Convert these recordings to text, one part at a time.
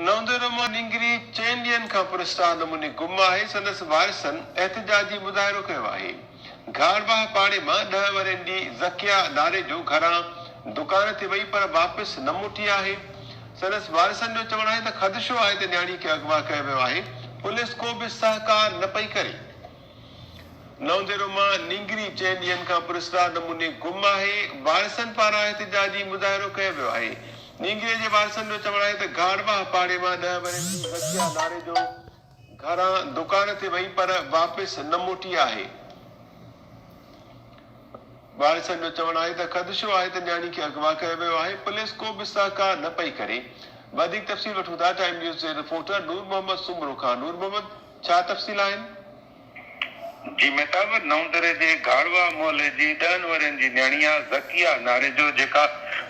نوندرما نينگري چئن ڏينهن کان پراسرار نموني گم آهي، سندس وارثن احتجاجي مظاهرو ڪيو آهي. گهارباهه پاڙي مان ڏهه ورهين جي ذڪيه ڌاريجو گهران دڪان تي وئي پر واپس نه موٽي آهي. سندس وارثن جو چوڻ آهي ته خدشو آهي ته نياڻي کي اغوا ڪيو ويو آهي، پوليس ڪو به سهڪار نه پئي ڪري. نونديرو مان نينگري چئن ڏينهن کان پراسرار نموني گم آهي، وارثن پاران احتجاجي مظاهرو ڪيو ويو آهي، نينگري جي وارثن جو چوڻ آهي ته گهاڙواهه پاڙي مان ڏهه ورهين جي ذڪيه ناريجو گهران دڪان تي وئي پر واپس نه موٽي آهي، وارثن جو چوڻ آهي ته خدشو آهي ته نياڻي کي اغوا ڪيو ويو آهي، پوليس ڪو به سهڪار نه پئي ڪري، وڌيڪ تفصيل وٺون ٿا ٽائيم نيوز جي رپورٽر نور محمد سومرو کان، نور محمد. ڇا تفصيل آهن؟ جي مهتاب نئون دري جي گهاڙوا محلي جي ڏهن ورهين جي نياڻي آ ذڪيه ناريجو جيڪا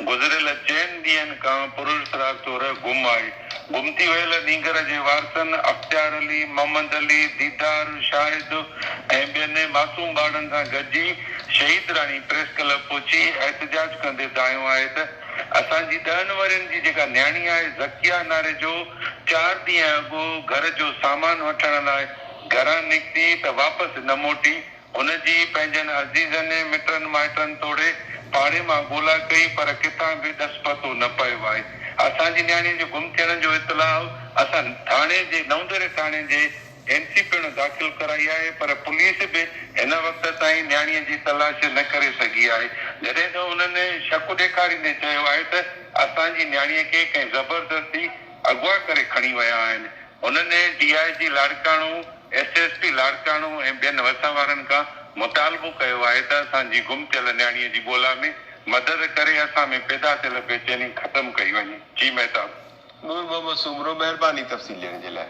گذريل چئن ڏينهن کان پرلس راز طور گم آهي گم ٿي ويل نينگر جي وارثن اختيار علي محمد علي ديدار شاهد ۽ ٻين معصوم ٻارڙن سان گڏجي شهيد راڻي پريس ڪلب پهچي احتجاج ڪندي دانهيو آهي ته اسان جي ڏهن ورهين جي جيڪا نياڻي آهي ذڪيه ناري جو چار ڏينهن اڳ گهر جو سامان وٺڻ لاء گهران نڪتي ته واپس نه موٽي، هن جي پنهنجن عزيزن، مٽن مائٽن توڙي پاڙي مان ڳولا ڪئي پر ڪٿان به ڏس پتو نه پيو آهي. اسان جي نياڻي جي گم ٿيڻ جو اطلاع اسان ٿاڻي جي نئوندهري ٿاڻي جي. اين سي پڻ داخل ڪرائي آهي پر پوليس به هن وقت تائين نياڻي جي تلاش نه ڪري سگهي آهي جڏهن ته انهن شڪ ڏيکاريندي چيو آهي ته اسان جي نياڻي کي ڪنهن زبردستي اغوا ڪري کڻي ويا آهن انهن D I G Larkana S S P Larkana ۽ ٻين وسان وارن کان مطالبو ڪيو آهي ته اسان جي گم ٿيل نياڻي جي ڳولا ۾ مدد ڪري اسان ۾ پيدا ٿيل بيچيني ختم ڪئي وڃي جي مهتاب. نور محمد سومرو مهرباني تفصيل ڏيڻ جي لاء.